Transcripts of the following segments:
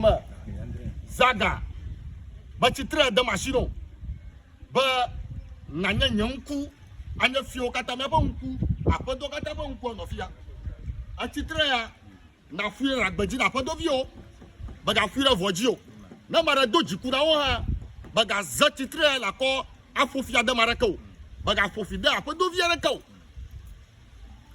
me zaga metsi tre de machine o be nanye nye ŋku anye fiwo katã míaƒe ŋku aƒedɔ katã ƒe ŋku nɔ fia etsi tre ya nafui ɖe agbe dzi na aƒedɔ viwo megafui ɖe vɔ dzi o ne ma ɖe do dziku na wo hã megaze tsi tre ya nakɔ aƒo fia de ma ɖeke o megaƒo fi de aƒedɔ vi aɖeke o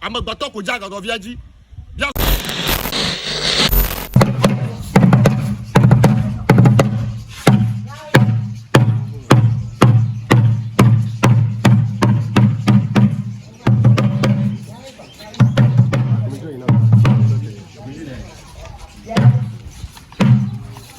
Amegbetɔ ko dze agagɔvia dzi.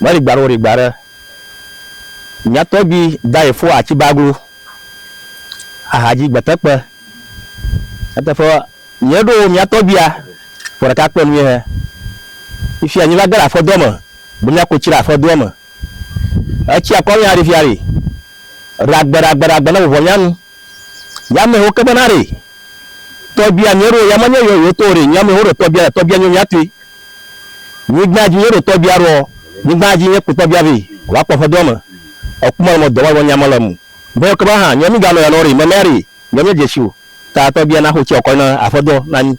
Mɔ ɖigba ɖe wo ɖigba ɖe mía tɔgbui daye fo aci baglo ahadzi gbetekpe. Nyateƒe mía ɖo mía tɔgbuia ƒe ɖeka kpe nui he. Fifia nyi va ge le aƒedɔ me be mía ko ci ɖe aƒedɔa me. Ecia kɔ mía ɖifia ɖi. Ɖagbe ɖagbe ɖagbe ne vuvɔ mía nu. Yame ho kebe na re. Tɔgbia nye ro yama nye yɔ yoto re nyame ho re tɔgbia tɔgbia nyo mia tui. Nyigba ji nye ro tɔgbia ro nyigba ji nye kpo tɔgbia ve wa kpɔ fe do ame. Ekuma le mo dɔwa wɔ nyama le mu. Be ho kebe ha nyɔ mi ga nɔ ya nɔ re meme re nyɔ mi je si o. Ta tɔgbia na ho tsi ɔkɔ na aƒe dɔ na nyi.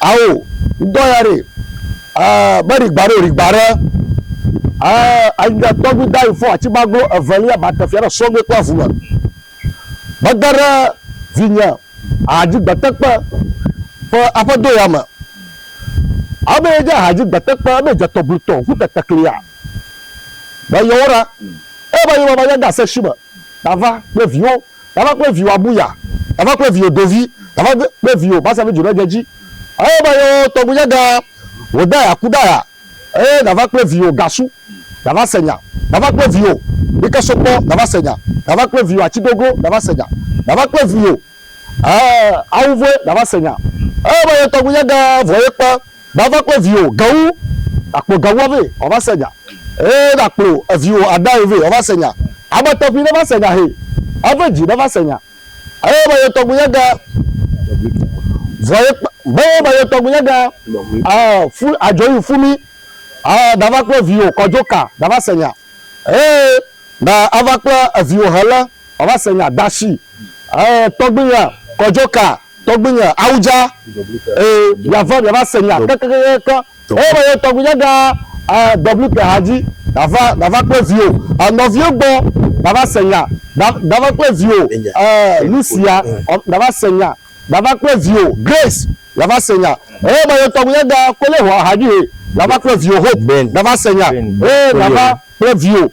Ao, ŋdɔ ya ɖe, e, be ɖigba ɖe o, ɖigba ɖe, e, anyi ɖe tɔgbi da yi fɔ atsi gbaglo evelia ba te fia ɖe sɔgbe kple avu me. Be de ɖe vinye ahadzi gbetekpe ƒe aƒe do ya me. Ao be ye dze ahadzi gbetekpe, ebe dze tɔglitɔ ŋku teteklia. Be yewɔ ɖa, eye be yewɔ va nya de ase shi me, ta va kple viwo. Eva kple viwò abu ya, eva kple viwò dovi, eva kple viwò basa be dzoɖedzedzi. Eye be yewo tɔgbuinyagã Hodaya ku ɖa ya, eye nava kple viwò gasu, nava se nya, nava kple viwò ɖikesokpɔ, nava se nya, nava kple viwò atsigoglo, nava se nya, nava kple viwò, ɛɛ, awuvɔe, nava se nya. Eye be ye tɔgbuinyagã vɔ ye kpe Gbava kple viwò gawu, ɖakplɔ gawua vɛ wòava se nya. Ee, ɖakplɔ viwò adae vɛ wòava se nya. Ame tɔxɛ neva se nya hɛ, ave dzi neva se nya. Eye me yetɔgbunya gã, vɔ ye kpa, be me yetɔgbunya gã, aa, fu, adzɔ yi fu mi. Aa, ɖava kple viwò kɔdzo ka nava se nya. Ee, na ava kple viwò hele wòava se nya. Dashi, ee, tɔgbunya kɔdzo ka. Tɔgbuinye awudza ee miava miava se nya kekekekekeŋ eye me yɔ tɔgbuinye ɖa ee WK hadzi dava dava kple viwo ee nɔviwo gbɔ dava se nya da dava kple viwo ee Lucia ɔ dava se nya dava kple viwo Grace dava se nya eye me yɔ tɔgbuinye ɖa kole ho hadzi he dava kple viwo Hope dava se nya ee dava kple viwo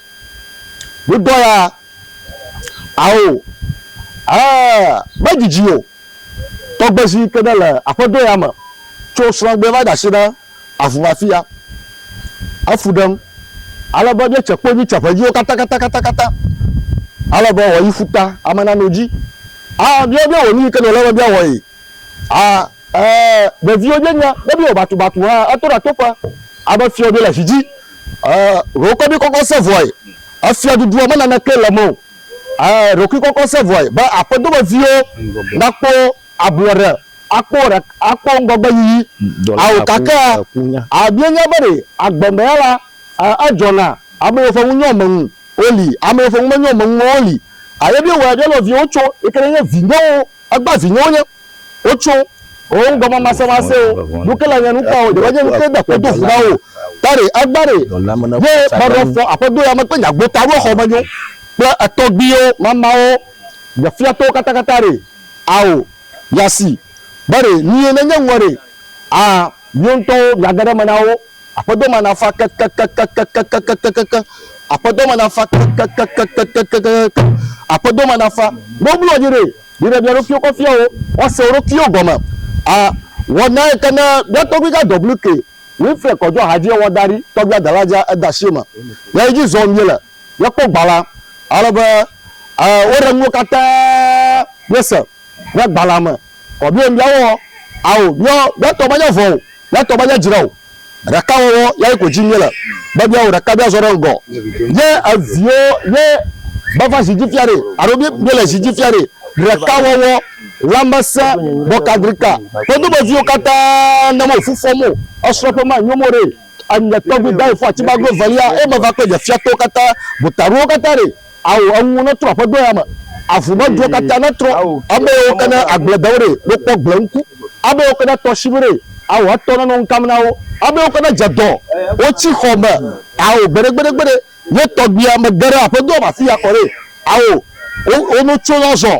Wodɔ ya, ao, ɛɛ, medidi o. Tɔgbezi yi ke nele aƒedo ya me tso srɔ̃a gbɔe va de asi ɖe avu me afia he fu ɖem ale be míetse kpo mí tse ƒedziwo katã katã katã katã ale be wòayi ƒuta ame nanɔ dzi. Aa, míawo míawɔ nu yi ke nɔ le be míawɔe. Aa. Ɛɛ, ɖeviwo je nya be míewɔ batubatu hã eto ɖa toƒe abe fiɔ ɖo le zi dzi. Ɛɛ, ɖokuikɔ ɖi kɔkɔ se vɔe e fiɔ ɖuɖua me naneke le eme o. Ɛɛ, ɖokuikɔkɔ se vɔe be aƒedo me viwo nakpɔ ablɔɖe akpɔ ɖe akpɔ ŋgɔgbe yiyi. Ao gake a míenya be ɖe agbe me ya la ɛɛ edzɔ na ame yiwo ƒe ŋu nyɔ me ŋu wo li ame yiwo ƒe ŋu menyɔ me ŋu wo li. Ɛɛ, ye míewɔe ɖe nɔ viwo tso yi ke ne nye vinyewo egba vinyewo nye. Wotso wo ŋgɔ mamasemasewo nu ke le nye nu kpɔ o, Yehowa nye nu ke da kpe do ŋu na wo. Tare, agbare, ye meɖɔ fɔ aƒedo ya me kple nye agbota ɖo xɔ me nyo kple etɔgbiwo mamawo nye fia tɔwo katakata re. Ao, ya si, be re nie ne nye ŋuɔ re, a miwo ŋutɔwo mia ge ɖe me na wo. Aƒedo ma na fa kekekekekekekekekekeke, aƒedo ma na fa kekekekekekekekekeke, aƒedo ma na fa. Ne woblɔ nyi re. Mine mía ɖokuiwo ƒe fiawo woase wo ɖokuiwo gɔme. A Wɔnae ke ne mía tɔgbui gã WK. Winfred kɔ dzɔ hadie wɔ da ɖi. Tɔgbuia dala dzea eda asi eme. Ɣeyiɣi dzi zɔm míele. Míekpɔ gbalẽa ale be e woɖe nuwo katã míese ɖe gbalẽa me. Kɔ míawo míawɔ ao míawo míatɔ menye vɔ o, míatɔ menye dzre o. Ɖakawɔwɔ yae ko dim míele be míawɔ ɖeka míazɔ ɖe ŋgɔ. Ye eviwo ye meva zi dzi fia ɖe alo míele zi dzi fia ɖe. Ɖekawɔwɔ, lãmesẽ, bɔkadrika ƒe domeviwo katã ne wo fu fɔm o, esrɔ̃ƒe ma nyom o ɖe. Enye tɔgbui Daye fɔ atibago evelia eye meva kple nye fiatɔwo katã gota ɖowo katã ɖe. Ao eŋuwo netrɔ aƒedo ya me, avu me duwo katã netrɔ, ame yiwo ke ne agbledewo ɖee, wokpɔ gble ŋku, ame yiwo ke ne tɔshiʋu ɖee, ao etɔ nenɔ ŋkam na wo, ame yiwo ke ne dze dɔ, wotsi xɔ me, ao gbeɖegbeɖegbeɖe, nye tɔgbuiamegbe ɖe aƒedoa me afi ya kɔ ɖee, ao wonotso azɔ.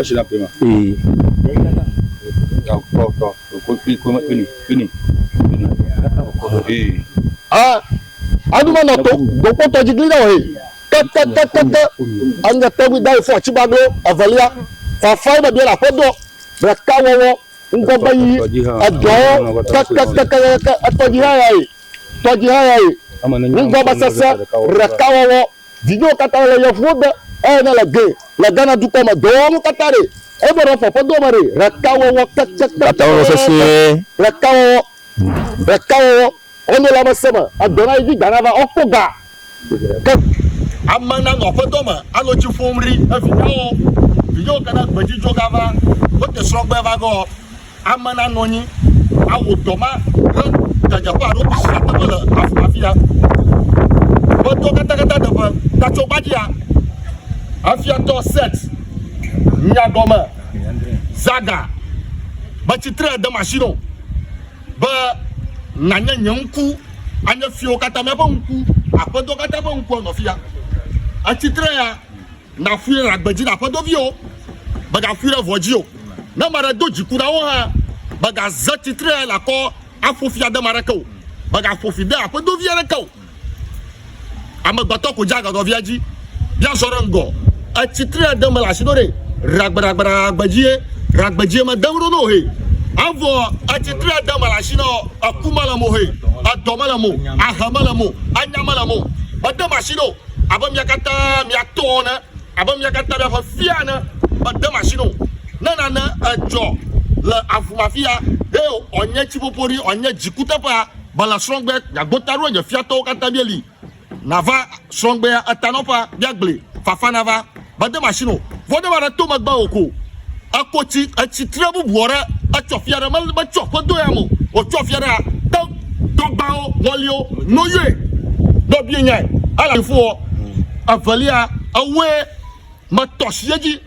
Esi la ƒe ma. Ee. Tɔ tɔ tɔ ko kpi ko kpini kpini. Ee. Ah. Anu ma na to gbogbo tɔ jigli na oye. Kakakakaka. Anga tɔgbi da ifo aci ba glo evelia. Fafa ina bia la ƒe dɔ. Ɖeka wɔwɔ ŋgɔgbe yi edɔwo kakakakaka etɔ ji ha ya ye. Tɔ ji ha ya ye. Ŋgɔgbe sese ɖeka wɔwɔ. Vinyewo katã le yevuwo gbɔ eye ne le gee le Ghana dukɔ me dɔwɔwɔnu katã ɖee, eɖo ɖe fɔ ƒe do me ɖee, ɖekawɔwɔ keke kple Ɖekawɔwɔ sesẽe. ɖekawɔwɔ, ɖekawɔwɔ ɔnɔ le amese me edɔ na yi dzi ga nava ɔkpɔ ga ke. Ame nanɔ aƒedɔ me anɔ tsi ƒom ri evinyawo, vinyewo ke ne gbedzidzɔ gava wote srɔ̃gbe vagɔ. Ame nanɔ anyi awɔ dɔ ma ɖe gageƒe alo nu sia teƒe le afia. Medɔ katakata teƒe tatsɔ gbadzia. Afiatɔ set nya gɔme zaga be tsitre de machine o be nanye nye ŋku anye fiwo katã míaƒe ŋku aƒedɔ katã ƒe ŋkua nɔ fia. Atsitre ya Nàƒui ɖe agbe dzi na aƒedo viwo, mègaƒui ɖe vɔ̃ dzi o. Ne ame aɖe do dziku na wò hã, mègaze tsitre le akɔ aƒo fi ade ame aɖeke o. Mègaƒo fi de aƒedo vi aɖeke o. Amegbetɔ ko dze agagɔ via dzi be azɔ ɖe ŋgɔ. Etsi tre ɖe mele asi ɖo ɖe ragbeɖagbeɖagbedzie ragbedzie me dem ɖo no he. Evɔ etsi tre ɖe mele asi nɔ eku mele mo he. Edɔ mele mo, ahe mele mo, anya mele mo. Mede masi ɖo. abe mia katã mia tɔ ene, abe mia katã miaƒe fia ene. Mede masini o. Ne nane edzɔ le avumafia, he wòanye tsiƒoƒoɖi, wòanye dzikuteƒea, mele srɔ̃gbe, miagbo ta ɖo nye fiatɔwo katã míeli. Nava srɔ̃gbea etanɔƒea, míagblẽe, fafa nava. Mede machine o. Vɔ ne va ɖe to megbe o ko eko tsi etsi tre bubuɔ ɖe etsɔ fia ɖe me me tsɔ ƒe do ya me o. Otsɔ fia ɖe a te tɔgbawo ŋɔlio no yɔe ne obie nyae ele aɖufoɔ. Evelia ewoe me tɔ shi edzi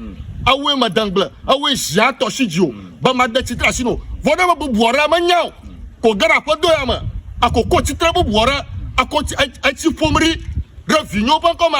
ewoe me de ŋgble ewoe zia tɔ shi dzi o be ma de tsi tre asi no. Vɔ ne me bubuɔ ɖe me nyao ko ge ɖe aƒe do ya me eko ko tsi tre bubuɔ ɖe eko tsi etsi ƒom ɖi ɖe vinyewo ƒe ŋkɔ me.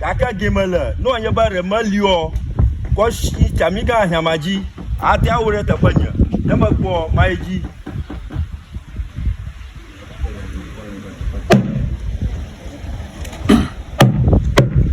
Gake game le nua nye be ɖe meliɔ kɔshi tsami gã ahiama dzi ate awo ɖe teƒe nye ne mekpɔ mayi dzi.